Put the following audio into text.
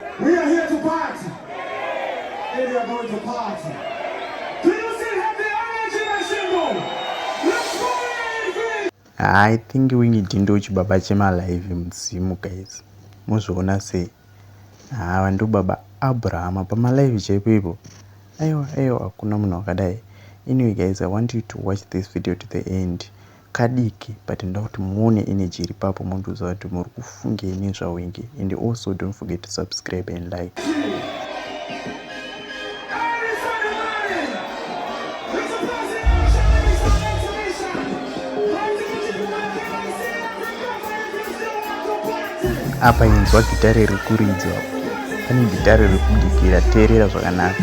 We are here to party. And we are going to party. Do you still have the energy, my symbol? Let's go, Ingrid! I think wingi dindo chibaba chema live mudzimu guys. Muzviona sei? Haa ah, ndobaba Abraham pama live chaipo ipo. Aiwa aiwa hakuna munhu wakadai. Anyway guys, I want you to watch this video to the end. kadiki but ndoda kuti muone energy iri papo mondiudza kuti muri kufungei nezvawenge and also don't forget to subscribe and like apa inzwa gitare rekuridzwa pane gitare rekudikira teerera zvakanaka